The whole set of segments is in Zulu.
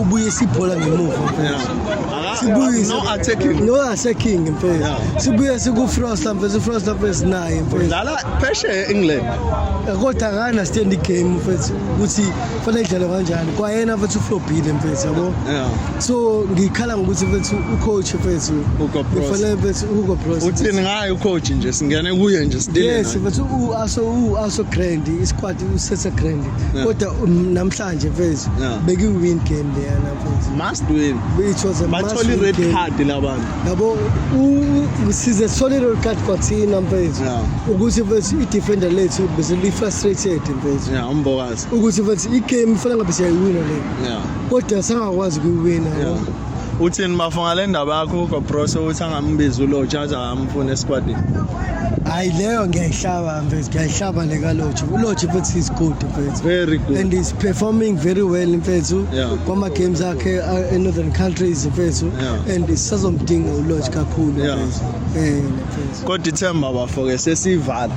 ubuye sibhola ngemuva sibuyise no attacking no attacking mfethu sibuye siku frost mfethu frost mfethu naye mfethu dlala phesheya england eh, kodwa akana stand game mfethu ukuthi fanele idlale kanjani kwayena mfethu uflobile mfethu yabo so ngikhala ngokuthi mfethu ucoach mfethu ufanele mfethu uko pros uthini ngaye ucoach nje singene kuye nje sidile yes mfethu u aso u aso grand isquad usese grand kodwa um, namhla Manje mfethu Yeah. beki win game leyana mfethu. must win It was a must bathola win i-red game. card labantu Yabo u- u- size sithole lolu card kwathina mfethu. Yeah. Ukuthi mfethu i-defender lethu bese li-frustrated mfethu. ya umbokazi Ukuthi mfethu i-game ifanele ngabe siyayiwina le. ya Kodwa sangakwazi ukuyiwina. yabo. Yeah. uthini bafo ngale ndaba yakho ugo brose ukuthi angambizi ulotsha aze akamfuna esikwatini hayi leyo ngiyayihlaba mfethu ngiyayihlaba le kalotsha ulotsha mfethu is good mfethu very good and is performing very well mfethu yeah. kwama-games akhe uh, in northern countries mfethu yeah. and sisazomdinga ulotsha kakhulu mfethu yeah. um mfethu kodwa ithemba bafo-ke sesivala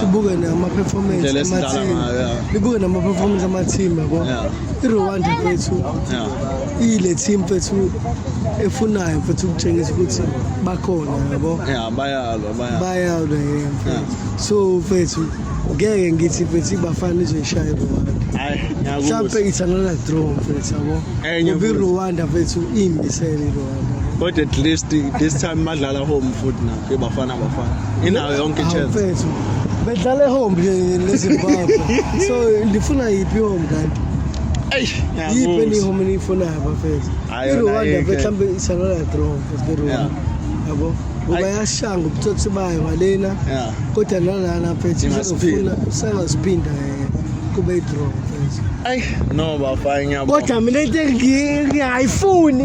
sibuke nama-performance libuke nama-performance amathimba bo i-rwanda fethu iyile team fethu efunayo fethu ukutshengisa ukuthi bakhona yabo bayalwa yena fethu so fethu ngeke ngithi fethu ibafana izoyishaya irwanda mhlawumpe it's another draw fethu yabo ngoba irwanda fethu iyimbisele irwanda kodwa at least this time badlala home futhi na ke bafana bafana inayo yonke chance mfethu bedlala ehome lezimbabwe so ndifuna yiphi ihome kanti yiphi enihome eniyifunayo bafethu irwanda mhlawumbe isalola draw rwanda yabo ngoba yashanga ubutsotsi bayo ngalena kodwa nalana mfethu izofuna usangaziphinda eh, kube idraw mfethu ayi no bafana ngiyabo kodwa mina into engiyayifuni